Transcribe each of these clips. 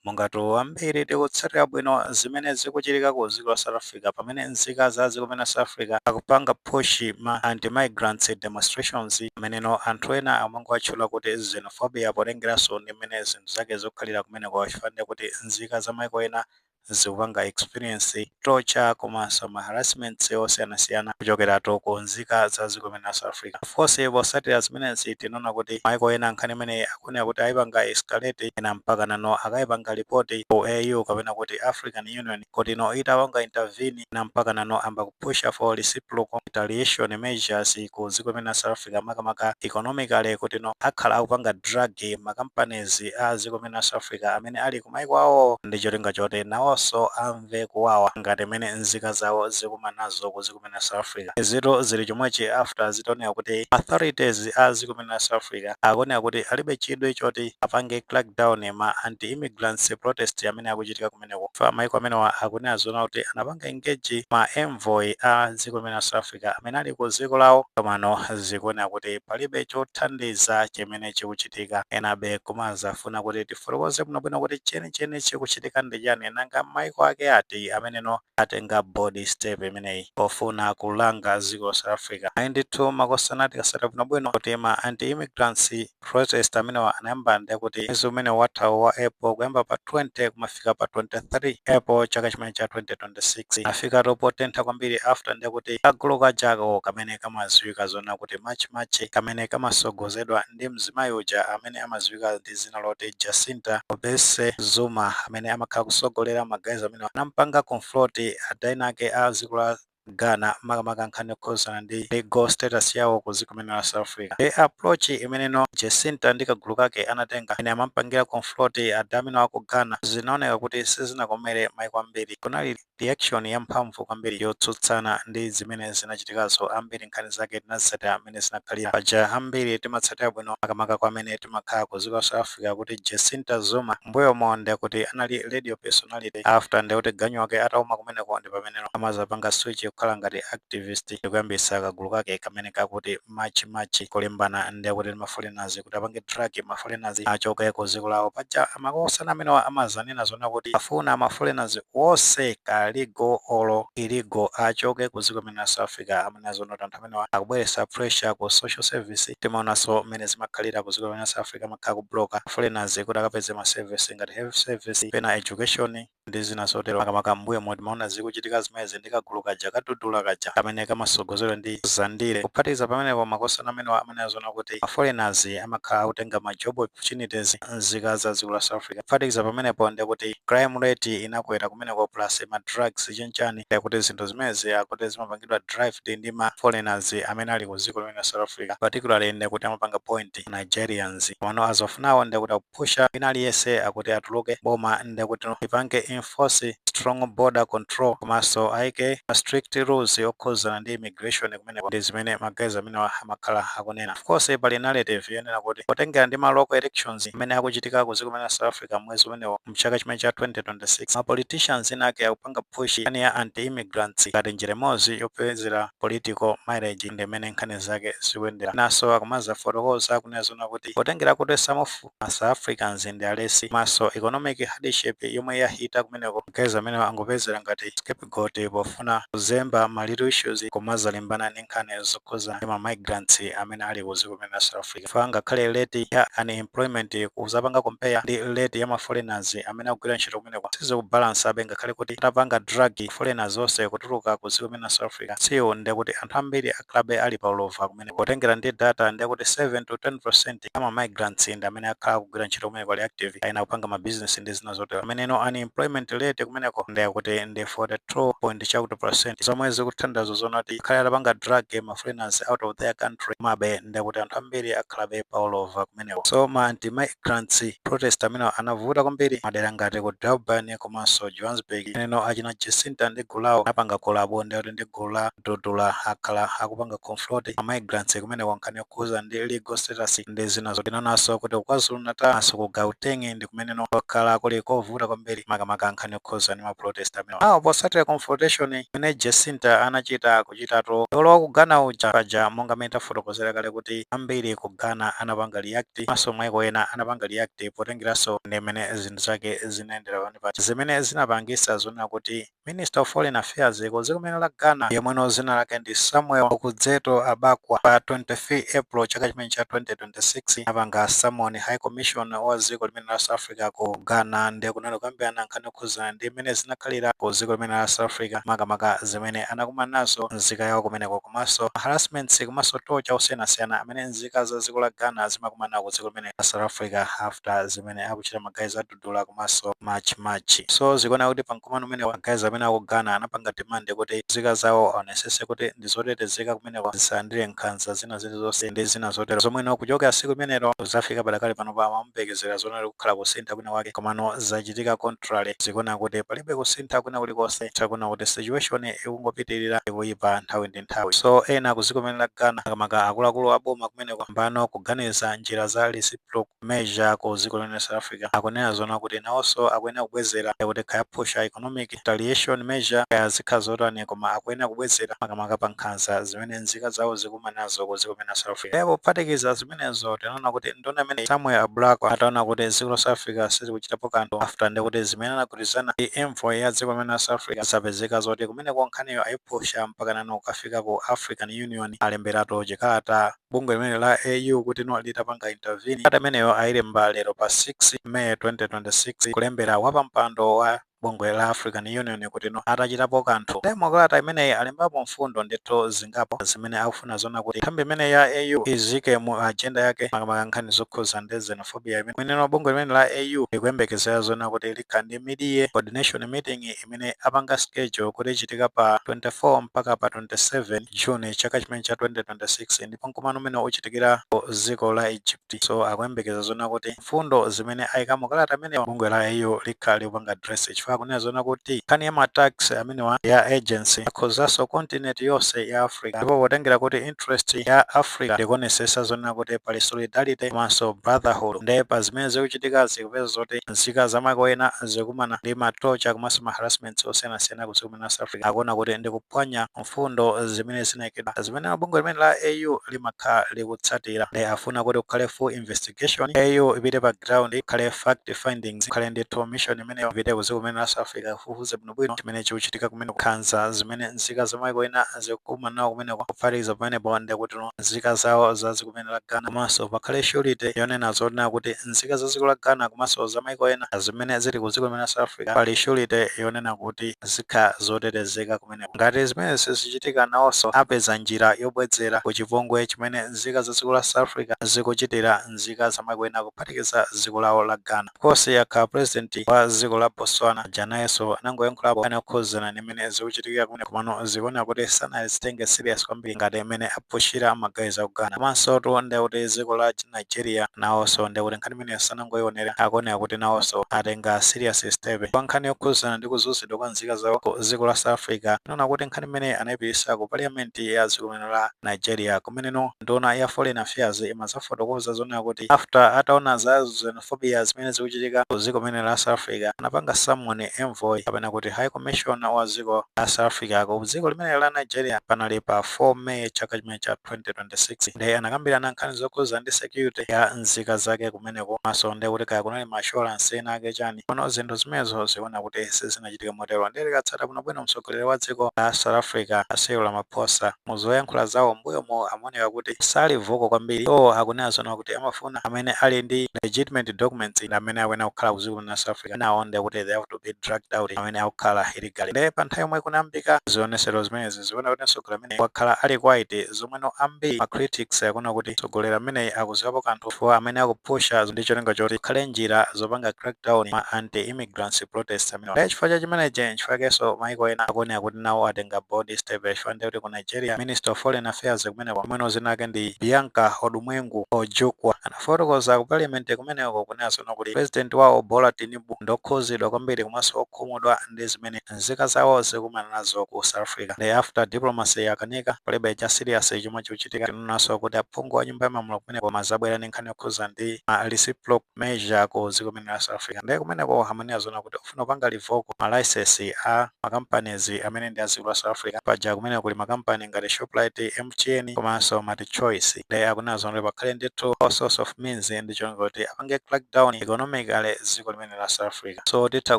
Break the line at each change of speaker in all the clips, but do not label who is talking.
Mongatu ambiri tikutsatira bwino zimene zikuchitika ku dziko la South Africa pamene nzika za dziko limene la South Africa akupanga push ma anti migrants demonstrations ameneno anthu ena amangowatchula kuti xenophobia potengeranso ndi mmene zinthu zake zikukhalira kumeneko chifukwa ndiye kuti nzika za maiko ena zikupanga experience torture komanso ma harassments osiyanasiyana kuchokeratu ku nzika za dziko limene la South Africa. Of course potsatira zimenezi tinaona kuti maiko ena nkhani imeneyi kunena kuti ayipanga escalate ena mpakana no akayipanga report ku AU kapena kuti African Union kuti no itapanga intervene ena mpakana no amba kupusha for reciprocal retaliation measures ku dziko limene la South Africa makamaka economically kuti no akhala akupanga drag ma companies a dziko limene la South Africa amene ali kumaiko awo ndi cholinga choti nawonso amve kuwawa ngati mmene nzika zawo zikumana nazo ku dziko la South Africa izitu zili chomwechi after zitaoneka kuti ma authorities a dziko limene la South Africa akuoneka kuti alibe chidwi choti apange crackdown ma anti immigrants protest amene akuchitika kumeneko chifukwa maiko amenewa akunena zoona kuti anapanga engage ma envoy a dziko limene la South Africa amene ali ku dziko lawo komano zikuoneka kuti palibe chothandiza chimene chikuchitika enabe kumazafuna kuti tifotokoze bwinobwino kuti chenicheni chikuchitika ndi chani nanga maiko ake ati ameneno atenga bold step imeneyi pofuna kulanga dziko la South Africa. Ayi ndithu makosana tikasata bwinobwino kuti ma anti-immigrants protest amenewa anayamba ndiye kuti mwezi umene wathawu wa April kuyamba pa 20 kumafika pa 23 April chaka chimene cha 2026 afika topo tentha kwambiri after ndiye kuti kagulu kajako kamene kamadziwika zona kuti March March kamene kamasogozedwa ndi mzimayi uja amene amadziwika ndi ndi dzina loti Jacinta Ngobese Zuma amene amakhala kusogolera ma guys amene anampanga confront adha enaake a dziko la Ghana makamaka nkhani yokhuzana ndi legal status yawo ku dziko limene la South Africa. Ndiye approach imene no Jacinta ndi kagulu kake anatenga amene amampangira confront adha amenewa aku Ghana zinaoneka kuti sizinakomere maiko ambiri. Kunali Reaction yamphamvu kwambiri yotsutsana ndi zimene zinachitikazo ambiri nkhani zake tinazitsatira mmene zinakhalira. Paja ambiri timatsatira bwino makamaka kwa amene timakhala ku dziko la South Africa kuti Jacinta Zuma mbuyomo ndekuti anali radio personality after ndekuti ganyu wake atauma kumeneko ndipameneno amazapanga switch kukhala ngati activist ndikuyambisa kagulu kake kamene kakuti March March kulimbana ndiye kuti ma foreigners kuti apange drag ma foreigners achoke ku dziko lawo paja amakosana amenewa amazanena zona kuti afuna ma foreigners wonse ka legal olo illegal achoke ku dziko limene la South Africa amanena zona kuti anthu amenewa akubweretsa pressure ku social service timaonanso mmene zimakhalira ku dziko limene la South Africa amakhala kubloka foreigners kuti akapeze ma service ngati health service pena education ndi zina zotero makamaka mmbuyomu timaona zikuchitika zimenezi ndi kagulu kaja ka Dudula kaja kamene kamasogozedwa ndi Zandile kuphatikiza pamenepo makosana amenewa amanena zonena kuti ma foreigners amakhala akutenga ma job opportunities nzika za dziko la South Africa kuphatikiza pamenepo ndi yakuti crime rate inakwera kumeneko plus ma drugs chenchani ndi kuti zinthu zimenezi akuti zimapangidwa drive ndi ma foreigners amene ali ku dziko limene la South Africa particularly ndi kuti amapanga point Nigerians komano azofunawo ndi kuti kupusha wina aliyense akuti atuluke boma ndekuti lipange enforce strong border control komaso liike ma strict rules okhuzana ndi immigration kumeneko ndizimene ma guys amenewa amakhala akunena of course pali narrative yonena kuti potengera ndi ma local elections amene akuchitika ku ziko limene la south africa mwezi umenewo mchaka chimene cha 2026 ma politicians ena ake akupanga push nkhani ya anti immigrants ngati njira imodzi yopezera political mileage ndi mmene nkhani zake zikuyendera naso akumazafotokoza akunena zoona kuti potengera kuti some of ma south africans ndi alesi komanso economic hardship yomwe yahita kumeneko guys amenewo angopezera ngati scapegoat pofuna kuzemba ma real issues kumazalimbana ndi nkhani zokhuza ndi ma migrants amene ali ku dziko limene la south africa chifukwa ngakhale rate ya unemployment kuzapanga compare ndi rate ya ma foreigners amene akugwira ntchito kumeneko sizikubalansabe ngakhale kuti atapanga drag foreigners onse kutuluka ku dziko limene la south africa still ndekuti anthu ambiri akhalabe ali pa ulova kumene potengera ndi data ndi yakuti 7 to 10 percent ama migrants ndi amene akhala akugwira ntchito kumeneko ali active ena akupanga ma business ndi zina zotero nomwe no unemployment rate kumeneko ndi yakuti ndi 42 point chakuti percent zomwe zikutanthauza zonena kuti ngakhale atapanga drag ma foreigners out of their country komabe ndi kuti anthu ambiri akhalabe pa ulova kumeneko so ma anti migrants protest amenewa anavuta kwambiri madera ngati ku Durban komanso Johannesburg neno achina Jacinta ndi gulu lawo anapanga kolabo ndi kuti ndi gulu la Dudula akhala akupanga confront ma migrants kumeneko nkhani yokhuza ndi legal status ndi zina zotero tinaonaso kuti ku KwaZulu Natal komanso ku Gauteng ndi kumeneno kwakhala kuli kovuta kwambiri makamaka nkhani yokhuza ndi ma protest amenewa. Ndiye potsatira confrontation imene Jacinta anachita kwa chi dolo wa ku Ghana uja paja monga mmene tafotokozera kale kuti ambiri ku Ghana anapanga react komanso maiko ena anapanga react potengeraso ndi mmene zin ndi zake zinayendera pamene paja zimene zinapangisa zonena kuti minister of foreign affairs ku dziko limene la ghana yemweno dzina lake ndi samuel okudzeto ablakwa pa 23 april chaka chimene cha 2026 anapanga summon high commissioner wa dziko limene la south africa ku ghana ndiye kunali kukambirana nkhani yokhudzana ndi mmene zinakhalira ku dziko limene la south africa makamaka zimene anakumana nazo nzika yawo kumeneko komanso harassments komanso torture osiyanasiyana amene nzika za dziko la ghana zimakumana nawo ku dziko limene la south africa after zimene zimene akuchita ma guys a Dudula komanso March and March. So zikuoneka kuti pa mkumano umenewu ma guys amene aku Ghana anapanga demand kuti nzika zawo aonesese kuti ndi zotetezeka kumeneko zisalandire nkhanza zina zilizonse ndi zina zotero zomwe no kuchokera tsiku limenelo kudzafika padakali pano pa amayembekezera zoona kuti kukhala kusintha kwina kwake komano zachitika contrary zikuoneka kuti palibe kusintha kwina kulikonse takuona kuti situation ikungopitirira ikuyipa nthawi ndi nthawi. So ena aku dziko limene la Ghana makamaka akuluakulu a boma kumeneko ayambano kuganiza njira za reciprocal. measure ku ziko limene la south africa akunena zoona kuti nawoso akuyenera kubwezera ndekuti kaya aphusha economic retaliation measure kaya zikhala zotani koma akuyenera kubwezera makamaka pa nkhanza zimene nzika zawo zikumana nazo ku ziko limene la south africa ndipo kuphatikiza zimenezo tinaona kuti nduna imene samuel ablakwa ataona kuti ziko la south africa sizikuchitapo kanthu after ndekuti zimene anagwirizana ndi envoy ya dziko limene la south africa zapezeka zoti kumeneko nkhaniyo ayiphusha mpaka nano kukafika ku african union alemberatu chikalata bungwe limene la AU kuti no litapanga intervene kalata imeneyo ayilemba lero pa 6 May 2026 kulembera wapampando wa bungwe la African Union kuti no atachitapo kanthu. Nde mukalata imeneyi alembapo mfundo ndithu zingapo zimene akufuna zona kuti nthambi imene ya AU izike mu agenda yake makamaka nkhani zokhuza ndi xenophobia imene mwineno bungwe limene la AU likuyembekezera zona kuti likhala ndi mid-year coordination meeting imene apanga schedule kuti ichitika pa 24 mpaka pa 27 June chaka chimene cha 2026 ndipo nkumano umene uchitikira ku ziko la Egypt so akuyembekeza zona kuti mfundo zimene ayika mu kalata imene bungwe la AU likhala likupanga address chifukwa akunena zona kuti nkhani ya ma attacks amenewa ya urgency akhuzaso continent yonse ya Africa ndipo potengera kuti interest ya Africa ndikuonesesa zona kuti pali solidarity komanso brotherhood nde pa zimene zikuchitikazi popeza zoti nzika za maiko ena zikumana ndi ma torture komanso ma harassments osiyanasiyana ku dziko limene la South Africa, akuona kuti ndi kuphwanya mfundo zimene zinaikidwa zimene bungwe limene la AU limakhala likutsatira. Nde afuna kuti kukhale full investigation, AU ipite pa ground, kukhale fact findings, kukhale ndithu mission imeneyo ipite ku dziko limene la South Africa ikafufuze bwino. bwinobwino chimene chikuchitika kumeneko nkhanza zimene nzika za maiko ena zikukumana nawo kumeneko kuphatikiza pamenepo ndekuti nzika zawo za dziko limene la Ghana komanso pakhale surety yonena zonena kuti nzika za dziko la Ghana komanso za maiko ena zimene zili ku dziko limene la South Africa pali surety yonena kuti zikhala zotetezeka kumeneko ngati zimenezi sizichitika nawonso apeza njira yobwezera ku chipongwe chimene nzika za dziko la South Africa zikuchitira nzika za maiko ena kuphatikiza dziko lawo la Ghana Of course yakha president wa dziko la Botswana aja nayenso anangoyankhulapo nkhani yokhuzana ndi mmene zikuchitikira kumeneko komano zikuoneka kuti sanazitenge serious kwambiri ngati mmene aphushira ma guys aku Ghana komansotu ndekuti dziko la Nigeria nawonso ndekuti nkhani imeneyo sanangoionera akuoneka kuti nawonso atenga serious step pa nkhani yokhuzana ndi kuzunzidwa kwa nzika zawo ku dziko la South Africa tinaona kuti nkhani imeneyi anaipitisa ku parliament ya dziko limene la Nigeria kumeneno nduna ya foreign affairs imazafotokoza zonena kuti after ataona za xenophobia zimene zikuchitika ku dziko limene la South Africa anapanga summon envoy kapena kuti high commissioner wa dziko la South Africa ku dziko limene la Nigeria panali pa 4 May chaka chimene cha 2026 nde anakambirana nkhani zokhuza ndi security ya nzika zake kumeneko maso nde kuti kaya kunali ma assurance ena ake chani kono zinthu zimenezo zikuoneka kuti sizina chitike motero ndiye tikatsata bwinobwino mtsogoleri wa dziko la South Africa a Cyril Ramaphosa mu zoyankhula zawo m'mbuyomo amaoneka kuti sali vocal kwambiri iwo akunena zoona kuti amafuna amene ali ndi legitimate documents ndi amene akuyenera kukhala ku dziko la South Africa enawo ndiye kuti they have to be dragged out amene akukhala illegally ndiye pa nthawi yomwe kunayambika zionesero zimenezi zikuoneka kuti mtsogoleri ameneyi wakhala ali quiet zomweno ambiri ma critics akuona kuti mtsogoleri ameneyi akuziwapo kanthu chifukwa amene akupusha ndi cholinga choti kukhale njira zopanga crackdown ma anti immigrant grants protest amenewa. Ndiye chifukwa cha chimenechi nchifukwakenso maiko ena akuoneka kuti nawo atenga bold step chifukwa ndiye kuti ku Nigeria Minister of Foreign Affairs kumeneko yemweno dzina lake ndi Bianca Odumegwu Ojukwu anafotokoza ku Parliament kumeneko kunena zoona kuti President wawo Bola Tinubu ndi okhuzidwa kwambiri komanso okhumudwa ndi zimene nzika zawo zikumana nazo ku South Africa. Ndiye after diplomacy yakanika palibe cha serious chomwe chikuchitika tinaonanso kuti aphungu a Nyumba ya Malamulo kumeneko kumadzabwera ndi nkhani yokhuza ndi ma reciprocal measure ku dziko limene la South Africa nde kumeneko amanena zoona kuti akufuna kupanga revoke ma license a ma companies amene ndi a dziko la South Africa paja kumeneko kuli ma company ngati Shoprite, MTN komanso Multichoice nde akunena zoona kuti pakhale ndithu all sorts of means ndi cholinga choti apange crackdown economically dziko limene la South Africa. Africa so titha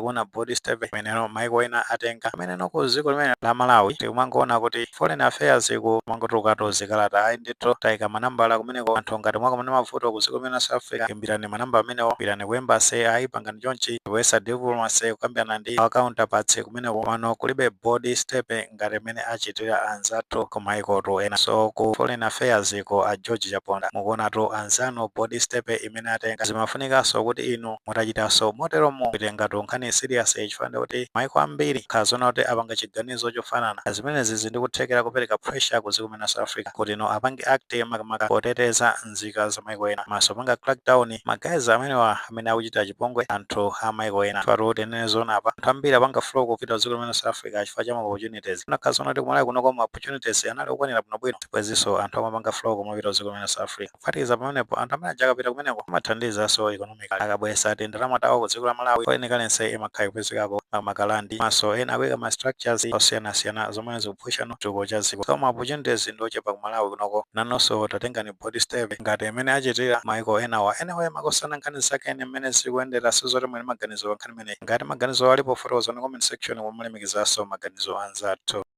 kuona bold step imeneno maiko ena atenga ameneno ku dziko limene la Malawi tikumangoona kuti foreign affairs kumangotulukatu zikalata ayi ndithu taika manambala kumeneko anthu ngati mwakumana mavuto ku dziko limene la South Africa imbirani manamba amenewo pitani ku embassy ayi pangani chonchi kuyesa diplomacy kukambirana ndi our counterparts kumeneko komano kulibe bold step ngati mmene achitira anzathu ku maikotu ena so ku foreign affairs ku a George Chaponda mukuonatu anzanu bold step imene atenga zimafunikanso kuti inu mutachitanso moteromo kuitengatu nkhaniyi serious chifukwa ndikuti maiko ambiri atakhala zoona kuti apanga chiganizo chofanana pa zimenezi zili ndi kuthekera kopereka pressure ku dziko limene South Africa kuti iwo apange act makamaka poteteza nzika za maiko ena komanso kupanga crack down ma guys amenewa amene akuchitira chipongwe anthu a maiko ena chifukwa kuti tinene zoona apa anthu ambiri apanga flow kupita ku dziko limene South Africa chifukwa cha ma opportunities kunakhala zoona kuti ku Malawi kunoko ma opportunities anali okwanira bwinobwino sibwezinso anthu amapanga flow kumapita ku dziko limene South Africa Kuphatikiza pamenepo, anthu amene aja akapita kumeneko amathandizaso economically. Akabwesa tindalama tawo ku dziko la Malawi, foreign currency imakhala ikupezekako makamaka rand. Komaso ena akuika ma structures osiyanasiyana zomwe zikupushano chitukuko cha dziko. So ma opportunities ndi ochepa ku Malawi kunoko. Nanuso tatengani bold step ngati mmene achitira maiko enawa. Anyway, makosana nkhani zake ndi mmene zikuyendera sidziwa kuti muli ndi maganizo pa nkhani imeneyi. Ngati maganizowo alipo fotokozani ku comment section koma mulemekezaso maganizo a anzanu.